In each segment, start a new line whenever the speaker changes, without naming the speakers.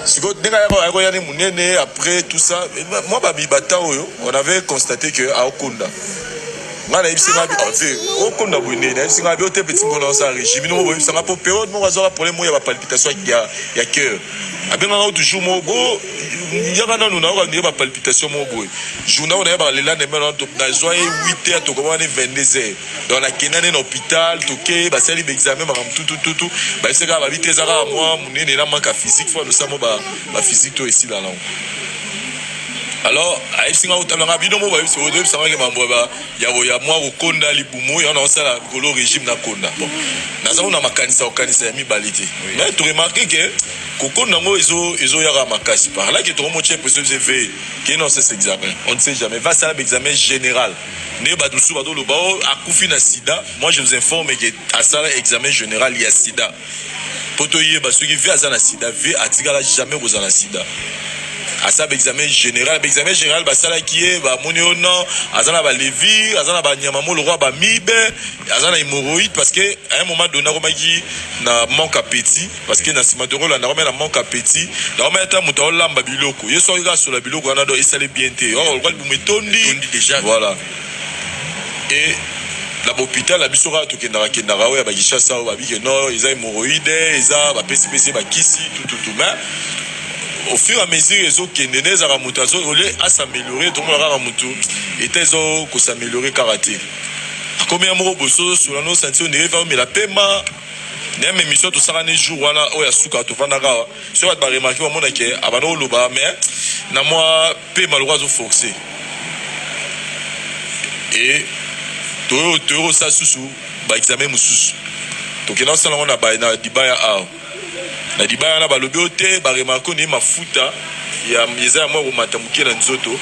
sikoyo ndenge akoya ni monene après tout ça mwa babibata oyo on avait constate que aokonda ngai nayebisi ngai te okonda boye nde nayebisi ngai bio te peti mpo na osa régime noko boyebisa ngai mpo periode moko azwaka problème oyo ya bapalpitation ya cœur abengaka o toujours moko bo yaka nanu nayoka ndenge bapalpitation moko boye journal oyo nayebaka le lendemain nazwa ye 8 heures tokomaka ne 22 heures donc nakenda nde na hôpital toke basali baexamen makambo tutututu bayebisa kaka babi te eza kaka mwa monene na manka physique fo alosamo baphysique to esila nango alors ayebisi nga kotala nga bino mo bayebisi oyebisa nga ke mambo ya mwa kokonda libumu yango naosala likolo régime nakonda bon naza kuna makanisa kokanisa ya mibale te mais toremarke ke kokonda yango ezoyaka makasi parlake tokomotya presio vse ve ke non sese examen on ne sait jamais vasala baexamen général nde bato mosusu bazoloba o oh, akufi na sida moi je vous informe ke asala examen général ya sida mpo toyeba soki vie aza na sida vie atikala jamais kozala na sida asala baexamen général baexamen général basalaki ye bamoni yo non aza na balevi aza na banyama mo lokwa bamibe aza na hémoroïde parce que à un moment donné akomaki na manque appetit parce que na sima toko landa comme na manque appétit na comme ta muta o lamba biloko yeso ka sola biloko wana do esale bien te oh lokali bu metondi déjà voilà et na bopital na biso kaka tokendaka kendaka oyo ya bakishasa oyo babike no eza hémoroïde eza bapesipesi bakisi tututu mais au fur et à mesure ezokende nde ezalaka moto ole asameliore tomona kaka motu eta ezo kosameliore kaka te akomi ya moko bosozo sola no santi ondire efa omela pema na meme emission tosakani jour wana oyo ya suka tofandaka awa soki bato baremarke bamona ke abanda koloba mais na mwa mpe maloko azoforce e toyei kosala susu baexame mosusu tokenda kosala yango na libaya awa na libaya wana balobi oyo te baremarke onei mafuta eza ya mwa komata moke na nzoto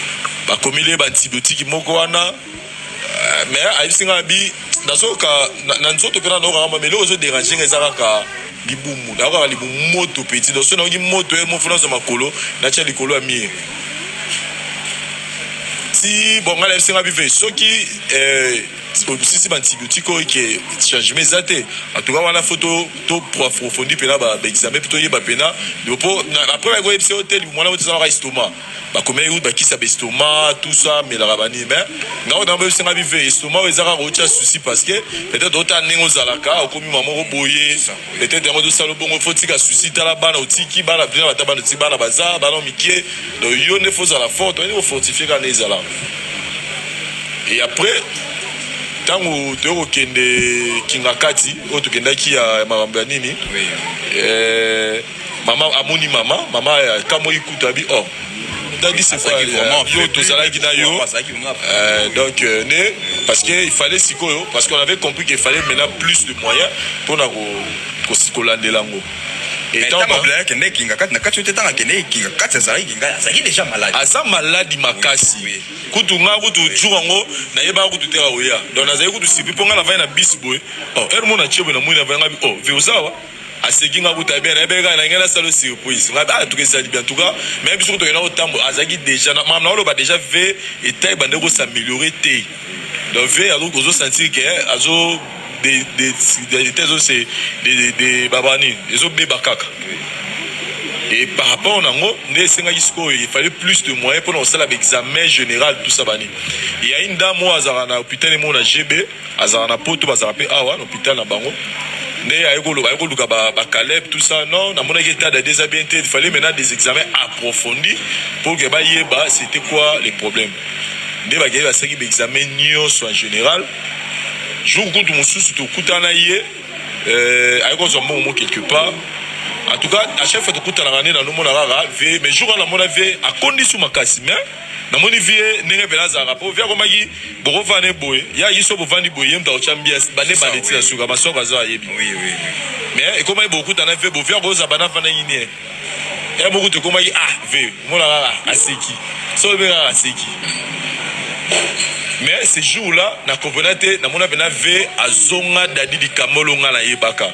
bakomeli ye baantibiotique moko wana me ayebisi ngai abi nazoyoka na nzoto mpe nanayoka kama me eloko ezo derange ngai eza kaka libumu nayokaka libumu moto peti donc soki nayoki moto ye mofu nazwa makolo natya likolo ya mire ti bon ngai nayebisi ngai bive soki obisisi baantibiotique oyo ke changement eza te atuka wana fo to proaprofondi mpena baexamen mpe toyeba mpena libo mpo après bayekoyebisa yo te libumu wana oyo tezalaka estoma bakomei oyo bakisa ba estomac tout ça melaka banini mais nga oyo naba yosenga bi ve estomac oyo eza kaka otya souci parce que peut-être ota ndenge ozalaka okomi mama moko boye peut-être yango tosala bongo fo tika souci tala bana otiki bana bina bata bana otiki bana baza bana mikie donc yo nde fo ozala forte oyende kofortifie kaka nde ezala et après ntango toyei kokende kingakati oyo tokendaki ya makambo ya nini eh, mama amoni mama mama akamwaki kutu abi o oh, yo tozalaki na yo euh, donc euh, ne parce que il fallait sikoyo parce qu'on avait compris qu'il fallait maintenant plus de moyens mpo na kolandela yango akende ekinga kati na kati oyo te ntango akende ekinga kati azalaki kinga azalaki deja maladi aza maladi makasi kutu ngai kutu jour yango nayebaka kutu te aoya donc nazalaki kutu sipi mpo ngai navai na bisi boye ere oh, mona tie boye na moi navai ngai o oh, ve ozawa aseki nga kuta bien nayebi kaka na ngai na salo surprise nga ah tuke sali bien tuka mais biso kuta yona otambo azaki déjà na mam na oloba déjà ve eta ebande ko s'améliorer te donc ve azo ozo sentir que eh, azo de de de de ezo se de de de babani ezo beba kaka et par rapport na ngo nde esengaki sikoyo il fallait plus de moyens pour na kosala ba examen général tout ça bani il y a une dame oyo azalaka na hôpital emo na GB Azalaka na poto bazalaka pe awa na hopital na bango nde aye ko loba aye ko luka ba ba caleb tout ça non na monaki etat dade eza bien te il fallait maintenant des examens approfondis pour que ba yeba c'etait quoi les problèmes nde ba keyi ba salaki ba examens nionso en general jour kutu mosusu to kutana ye euh, aye ko zwa mbongo mo quelque part en tout cas à chaque fois to kutanaka nde na nomona kaka vie mais jour wana na mona vie akondi su makasi mais namoni vie ndenge mpela azalaka mpo vie akomaki bokofana ne boye ye ayaki so bofandi boye ye moto akotya mbia bande bande ti na suka masoko azo ayebi mais ekomaki bokutana vie bovie akoza bana afandaki nie ya moko tokomaki ah vie omona kaka aseki so oyebi kaka aseki mais ce jour là na comprena te namona mpena vie azonga dadi likambo olonga nayebaka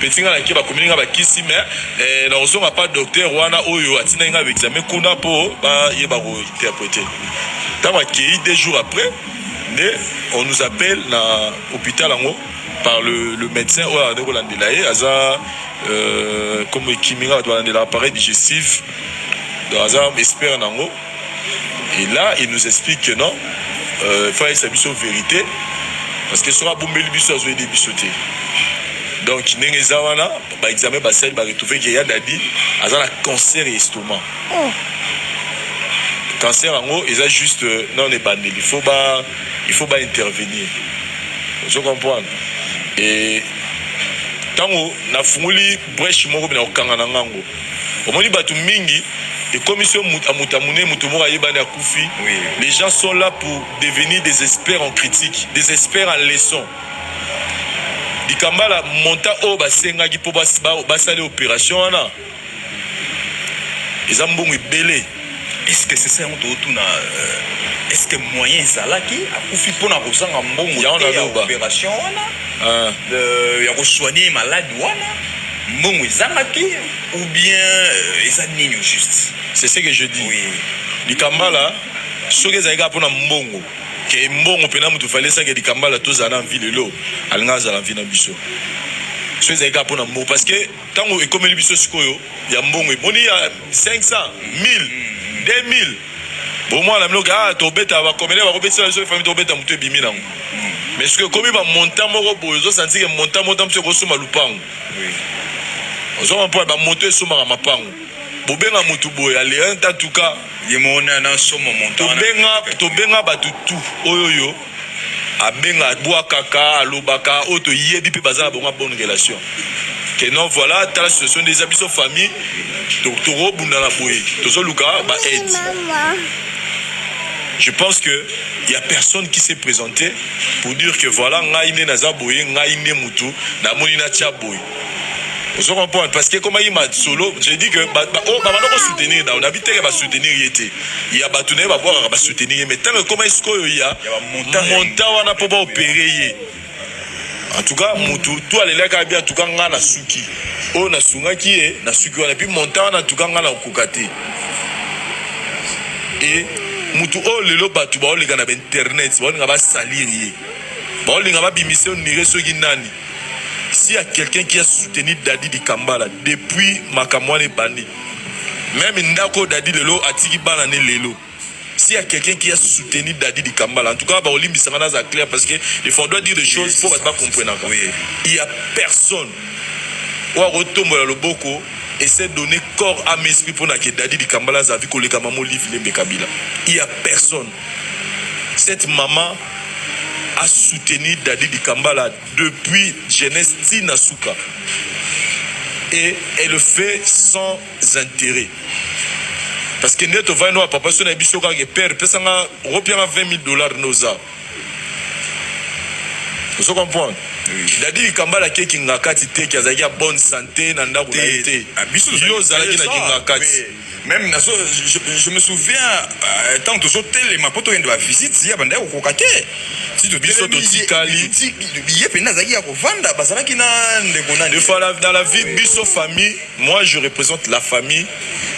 Petit nga na ke bakomeli nga bakisi mais eh, na kozonga pa docteur wana oyo atindaki nga baexamen kuna mpo bayeba kointerprete ntango akei deux jours après nde on nous appelle na hôpital yango par le, le médecin oyo azali kolandela ye aza euh, comme ekimi nga bato balandela appareil digestif donc aza expert na yango Et là, il nous explique que non, euh, faut essayer biso vérité, parce que soka bombeli biso azo aider biso te. Donc ndenge eza wana, ba examen ba sali ba retrouver que ya dadi aza na cancer ya estomac. Oh. Cancer yango eza juste euh, non ebandeli, il faut ba il faut ba intervenir. Ozo comprendre? Et tango nafungoli Preche moko bina kokanga na nga ngo omoni batu mingi ekomisi yo mut- amutu amune mutu moko ayebani akufi Oui. les gens sont là pour devenir des experts en critique des experts en leçon dikambala monta oyo basengaki mpo bas- ba- basali opération wana eza mbongo ebele Est-ce que c'est
ça yango totuna euh, est-ce que moyen ezalaki akufi mpona kozanga mbongo te ya opération wana ah. euh, ya kosoigne malade wana mbongo ezangaki ou bien euh, eza nini juste c'est ce que je dis oui.
likambala soki ezalaki kaka mpona mbongo ke mbongo mpena moto falesaki likambala tozala na mvi lelo alinga azala mvi na biso soki ezalaki kaka mpona mbongo parce que Tango ekomeli biso sikoyo ya mbongo eboni ya 500, 1000, 2000 bo mwana na bino ke ah tobeta ba comedien bako betisa biso famille tobeta moto ebimi nango mais sikoyo ekomi ba montant moko boye ozo sentir ke montant moko mosusu ekosomba lupangu ozoma mpo ba moto esombaka mapangu bobenga moto boye ya le 1 en tout cas ye moko na
somo montant wana tobenga tobenga
bato tout oyo yo abenga abuakaka alobaka oyo toyebi pe baza na bango ya bonne relation que non voilà tala situation nde eza biso famille tokobunda na boye tozoluka ba aide je pense que il y a personne qui s'est présenté pour dire que voilà ngai nde naza boye ngai nde mutu namoni natia boye ozo comprendre parce que ekomaki masolo je dis que oyo oh, babanda kosoutenir nao nabi teke basoutenir ye te ya bato na ye babwakaka basoutenir ye mais ntango ekomaki sikoyo ya monta wana mpo baopere ye en tout cas mutu to alelaki abi en tout cas ngai nasuki oyo nasungaki ye nasuki wana puis monta wana en tout cas ngai nakokoka te e mutu oyo lelo bato baoleka na bainternet baolinga basalir ye baolinga babimisa onire soki nani S'il y a quelqu'un qui a soutenu Daddy Dikambala depuis makambo wana ebandi, meme ndako Daddy lelo atiki bana ne lelo. S'il y a quelqu'un qui a soutenu Daddy Dikambala, en tout cas, baolimbisa nga naza clair parce que il faut on doit dire des choses pour bato bakomprenaka. Il y a personne oyo akotombola loboko et s'est donné corps à esprit mpo na ke Daddy Dikambala azavi koleka mama Olive Lembe Kabila. Il y a personne. Cette maman a soutenir Dady Dikambala depuis jeunesse ti na suka et elle le fait sans intérêt parce que nde tovandi no papa so na biso kaka ke père pesa nga opia nga 20 000 dollars noza ozo comprendre Dady Dikambala ke kingakati te ki azalaki ya bonne santé na ndako na ye te yo ozalaki na kingakati Meme nazo
je, je me souviens euh, tant tozo telema po toyende ba visite ya banda kokoka te tito biso totikali ye pena azalaki ya kovanda bazalaki na ndeko nani fois dans la vie
biso famille moi je représente la famille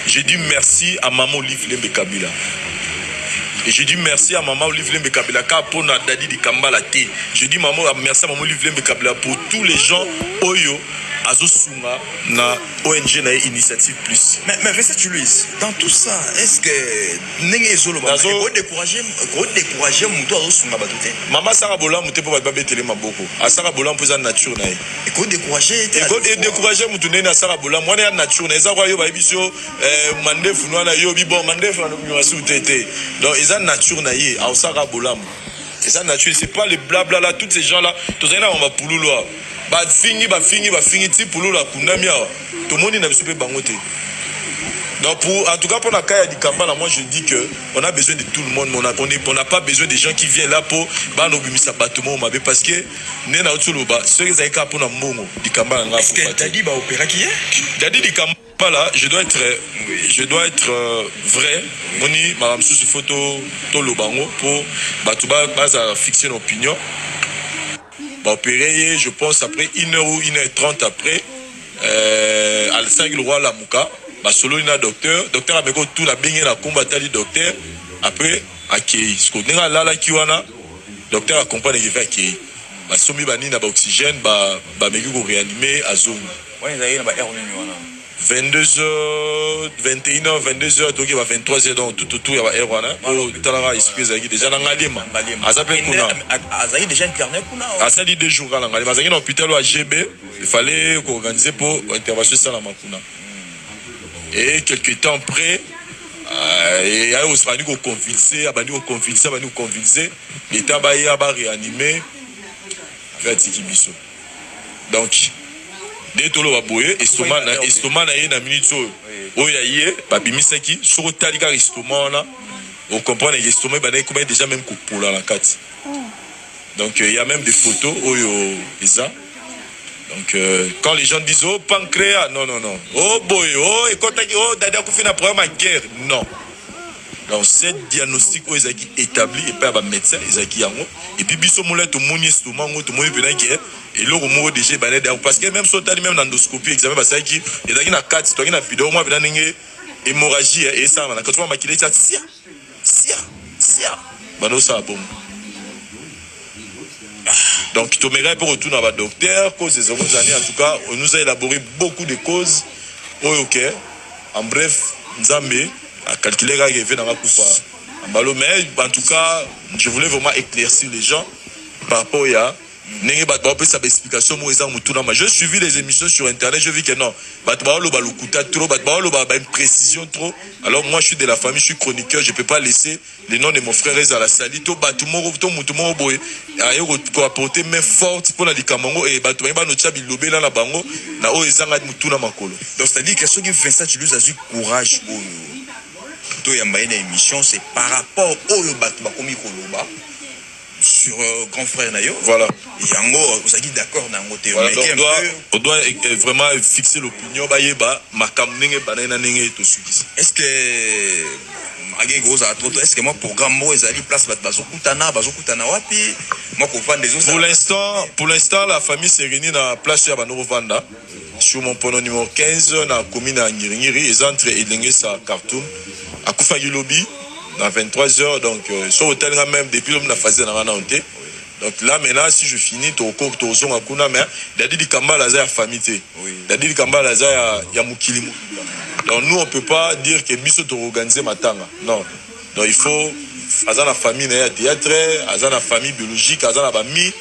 je dis merci à maman Olive Lembe Kabila Et je dis merci à maman Olive Lembe Kabila car pour na Dadi di Kambala te. Je dis maman merci à maman Olive Lembe Kabila pour tous les gens oyo azosunga na ONG na ye initiative plus. Mais, mais Vincent Chuluis,
dans tout ça, est-ce que ndenge ezoloba Nazo- eko décourager eko décourager moto azosunga bato te mama asaka bolamu te
mpo bato babetele maboko asaka bolamu mpo eza nature na ye eko décourager
ye te Eko- edécourage
motu ndenge asala bolamu wana ya nature na eza kwa yo bayebisi yo eh, mandefu na wana yobi bon mandefu nasuku te te donc eza nature na ye aosaka bolamu eza nature c'est pas le blabla là toutes ces gens là tozali na bango bapululu awa Ba fingi ba fingi ba fingi ti pululu akundami awa tomoni na biso pe bango te donc pour en tout cas pona kaya dikambala moi je dis que on a besoin de tout le monde mais on a on, est, on a pas besoin des gens qui viennent là po bana obimisa bato moko mabe parce que nde na otoloba soki ezali kaka pona mbongo dikambala nga afuka te
dadi dikambala
pas là je dois être je dois être euh, vrai moni makambo mosusu fo toloba yango mpo bato bazala fixe na opinion baopere ye je pense après une heure ou une heure trente après euh, alsaki lokwa alamuka basololi na docteur docteur ameki otula abenge na nkombo atali docteur après akei siko ndenge alalaki wana docteur acomprane ekevi akei basombi banini na baoxygène bameki ba koreanime azongi Wana ezalaki na ba heure nini wana? 22 heures 21 heures 22 heures toki ba 23 heures donc tout tout ya ba heure wana po talaka esprit ezalaki deja na ngaliema aza pe kuna azali deja
internet kuna asali deux jours kala
ngaliema azalaki na hôpital ya GB il fallait ko organiser po intervention esalama kuna et quelque temps après euh, ayo abandi koconvulse abandi koconvulse abandi koconvulse leta baya ba réanime mpe atiki biso Donc nde toloba boye estoma na estoma na ye na minute oyo oyo ya ye babimisaki soki otali kaka estoma wana ocomprendre ke estoma ebanda ekoma ye déjà meme kopola na kati donc euh, il y a même des photos oyo eza donc euh, quand les gens disent oh pancréas non non non oh boye oh ekotaki oh dada akufi na problème ya guerre non Donc cette diagnostic oyo ezalaki etabli epai ya ba medecin ezalaki yango epuis biso molai tomoni estoma yango tomoni mpena ke eloko moko deja ebanda deya parce que meme so otali meme na endoscopie examen basalaki ezalaki na kati toyaki na video mwa mpena ndenge hémorragie eh, esalama na kati mwa makila etya sia sia sia banda osala bongo donc tomekaki mpe kotuna badocteur cause ezoko ezali en tout cas on nous a élaboré beaucoup de causes oyo ke en bref nzambe Na calculer kaka que vie na nga kufa na mbalo mais en tout cas je voulais vraiment eclaircir les gens par rapport ya ndenge bato baopesa baexplication moko eza motuna ma je suivi les émissions sur internet je vis que non bato baoloba lokuta trop bato baoloba baimprécision trop alors moi je suis de la famille je suis chroniqueur je peux pas laisser Le nom de mon frère ezala sali to batu moko to mutu moko boye aye ko apporter main forte pona likambo yango et batu baye banotia bilobela na bango na oyo ezanga
mutuna makolo. Donc c'est à dire que soki Vincent Tshiluizi azui courage oyo to yamba ye na emission c'est par rapport oyo batu bakomi koloba. sur euh, grand frère na yo voilà yango ozalaki d'accord na yango te voilà, donc doit,
on doit eh, eh, vraiment fixer l'opinion bayeba makambo ndenge ebandaki na ndenge
tosukisi est ce que ake kozala trop est ce que mwa programme moko ezali place bato bazokutana bazokutana wapi mwa kovanda ezo pour l'instant pour l'instant la
famille se réunit na place oyo ya bando kovanda Sur mon pono numero 15 na commune ya Ngiringiri eza entre Elengesa Khartoum akufaki lobi na 23 heures donc euh, so otali nga même depuis lobi na phase na nga nao te donc là maintenant si je finis toko tozonga kuna mais Dadi Likambala aza ya famille te Dadi Likambala aza ya, ya mokili donc nous on peut pas dire que biso to organiser matanga non Donc il faut aza na famille na ye ya theatre, aza na famille biologique, aza na bami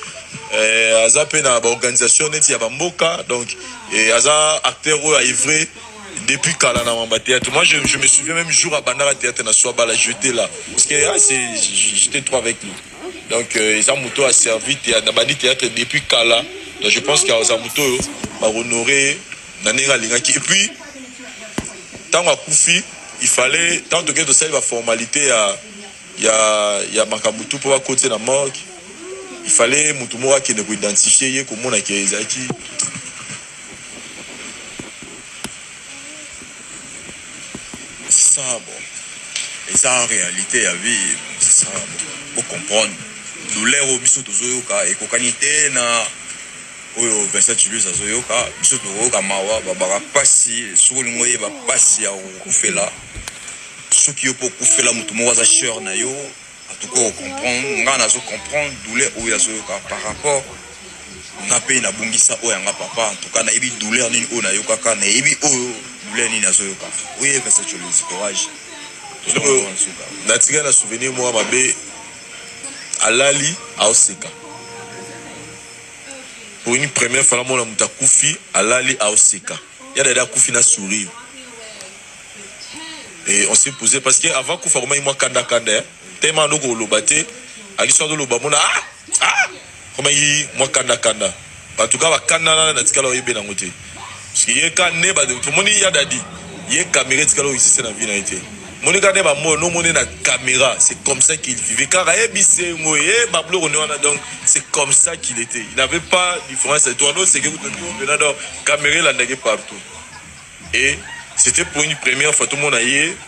eh, aza mpe na baorganisation neti ya bamboka donc eh, aza acteur oyo aevre depuis kala na mamba théâtre moi je, je me souviens même jour abandaka théâtre na soa bala jeté là parce que ah, j'étais trop avec lui donc euh, eza moto aservi na bandi théâtre depuis kala donc je pense qu'aza moto oyo bahonorer na ndenge alingaki et puis ntango akufi il fallait ntango tokei tosali baformalite ya ya ya makambo tu mpo bakoti na morgue il fallait motu moko akende koidentifie ye komona ke ezalaki
sabo eza en réalité ya vie sabo bocomprendre douleur oyo biso tozoyoka ekokani te na Oyo Vincent Tshiluizi azo yoka biso toko yoka mawa ba baka pasi soki olingi oyeba pasi ya ko kufela soki yo pe okufela mutu moko aza choeur na yo en tout cas oko comprendre nga nazo comprendre douleur oyo azo yoka par rapport nga pe na bungisa oyo ya nga papa en tout cas nayebi douleur nini oyo na yokaka nayebi oyo douleur nini azo yoka oui Vincent Tshiluizi courage Oyo na
tika na souvenir moko mabe alali azo seka pour une première fois namona moto akufi alali aoseka ya dada akufi na sourire et on s'est posé parce que avant kufa komaki mwa kanda kanda eh. tellement ando koloba te akiso azoloba mona ah, ah, komaki mwa kanda kanda en tout cas bakanda na natikala oyebe nango te Parce que ye ka ne ba to moni ya dadi ye kamera etikala oexiste na vie na ye te. Moni ka ne ba mo no moni na kamera c'est comme ça qu'il vivait car ye bisengo ye ba bloko ne wana donc c'est comme ça qu'il était. Il n'avait pas différence de toi no c'est que kutu to bena donc kamera elandaki partout. Et c'était pour une première fois to mona ye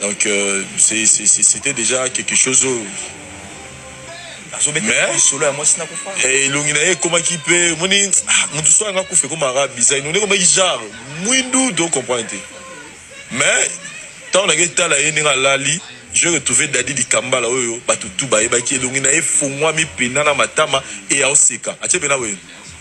Donc euh, c'était déjà quelque chose oyo eh,
elongi na ye ekomaki
mpe moni ah, moto so yanga kufa ekomaka bizai none ekomaki genre mwindu do comprendre te mais ntango nake etala ye ndenge alali je retrouve dadi likambala oyo bato tu bayebaki elongi na ye efongwami mpena na matama eya oseka atie mpena boye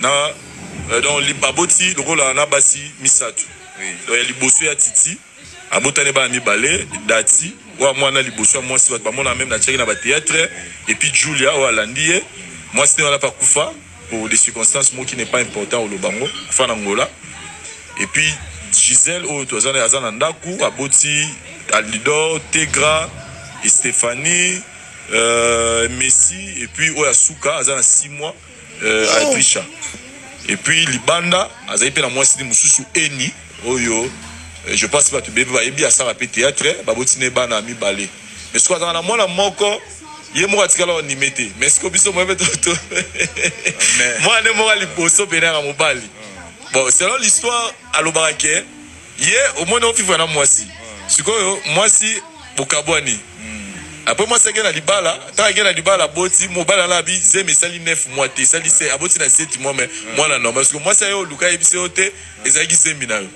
na euh, donc baboti lokola na basi misato donc ya liboso ya titi abotani bana mibale dati oyo mwana liboso ya mwasi bato bamona meme na tiaki na batheatre epuis julia oyo alandi ye mwasi nde wana mpe akufa pour des circonstances moko qui n'est pas important oloba yango kufa na ngola epuis gisele oyo toza aza na ndako aboti alidor tegra stephanie euh, messi epuis oyo asuka aza na 6 mois euh, Aisha et puis libanda azali mpe na mwasi ni mosusu eni oyo euh, je pense bato bebe bayebi asala mpe théâtre baboti na ye bana mibale mais soki azala na mwana moko ye moko atikala onime te mais siko biso moye mpe toto mwana nde moko ya liboso mpe nanga mobali bon selon l'histoire alobaka ke ye omoni o vivre na mwasi sikoyo mwasi bokabwani apres mwasi ake na libala ntango ake na libala aboti mobali alabi zemi esali 9 mois te esali se aboti na 7 mois me mwana normal sikoyo mwasi ayo oluka ayebisi yo te ezalaki zemi na yo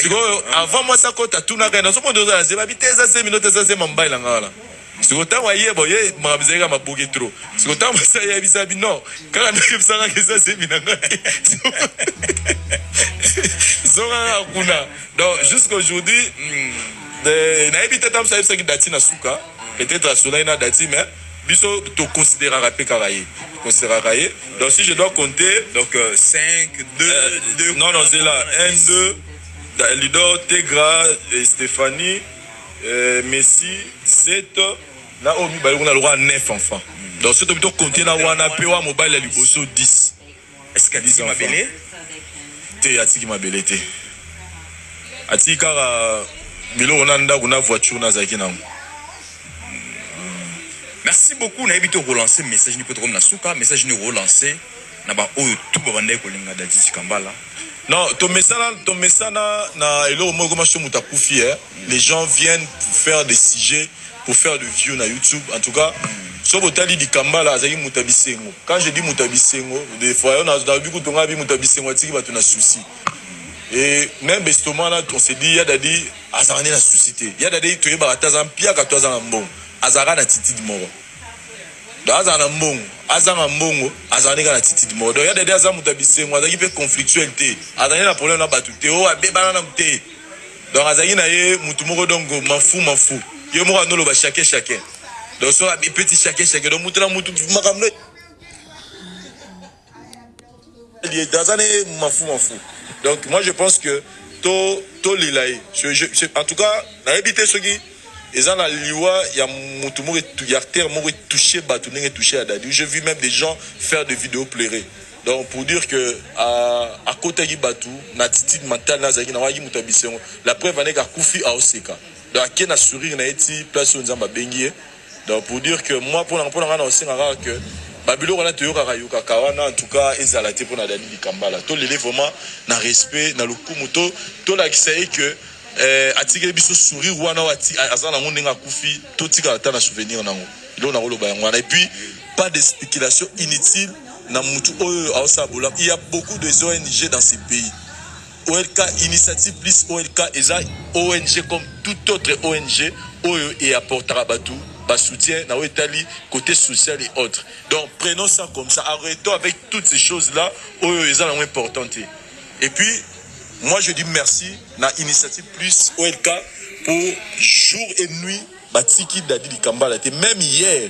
sikoyo avant mwasi akota atunaka ye nazomona oza na zemi abi te eza zemi no te eza zemi ya mobali na ngai wana siko tango ayeba oye makambo ezali kaka maboke trop siko tango basi ayebisa bi non kaka nayebisa kaka eza zemi na ngai zonga kaka kuna donc jusqu'aujourd'hui hmm, eh, nayebi te ntango ayebisaki dati na suka peut-être asolaki na dati mais biso toconsideraka mpe kaka ye toconsideraka ye donc si je dois compter donc
5 2 2 non non zela
1 2 lido tegra eh, stéphanie Euh, Messi 7 na oyo mibale kuna lokola 9 enfants. Donc soki tobi tokonte na wana mpe wa mobali ya liboso 10. Est-ce que atiki
mabele? Te,
atiki mabele te. Atiki kaka biloko na ndako na voiture nazalaki nango.
Merci beaucoup nayebi te okolancer message nini mpo tokomi na suka message nini okolancer na ba oyo tout ba bandaki kolinga Daddy Dikambala. Non tomesana
tomesana na eloko moko ekoma so moto akufi eh. Les gens viennent pour faire des sujets pour faire de view na YouTube en tout cas so botali Dikambala azalaki moto ya bisengo quand je dis moto ya bisengo des fois na nabi kutu ngai bi moto ya bisengo atiki bato na souci et même bestoma wana on se dit ya dadi azalaka nde na souci te ya dadi toyebaka te aza mpiaka to aza na mbongo azalaka na attitude moko donc azala na mbongo azanga mbongo azala ndenge na titide moko donc ya dede aza moto ya bisengo azalaki mpe conflictuel te azalaki na problème na bato te o oh, abebana na te donc azalaki na ye motu moko donc mafu mafu ye moko anoloba chacun chacun donc so abepeti chacun chacun donc motu na motu makambo Dans un mafu mafu. Donc moi je pense que to to lilaye. Je, je, je, en tout cas, na habité ce qui ils ont la liwa ya mutu moko ya terre moko touché batu ndenge touché à Dadi. J'ai vu même des gens faire des vidéos pleurer. Donc pour dire que à, à côté qui batu na attitude mentale na zaki na waki mutu abisengo. La preuve aneka kufi a oseka. Donc akena sourire na eti place on zamba bengie. Donc pour dire que moi pona pona nga na osenga kaka que ba biloko na toyokaka yokaka wana en tout cas ezala te pona Dani Likambala to lele vraiment na respect na lokumu to to lakisa ye que eh, atikeli biso sourire wana wati aza nango ndenge akufi to tikala ta na souvenir nango ilo nako loba yango wana et puis pas de spéculation inutile na mutu oyo aosala bolamu il y a beaucoup des ONG dans ce pays OLK Initiative Plus OLK eza ong comme tout autre ong oyo e apportaka batu ba soutien na oyo etali cote social et autres donc prenons ça comme ça arretons avec toutes ces choses là oyo eza nango important te et puis moi je dis merci na Initiative Plus OLK pour jour et nuit batiki Dady Likambala te meme hier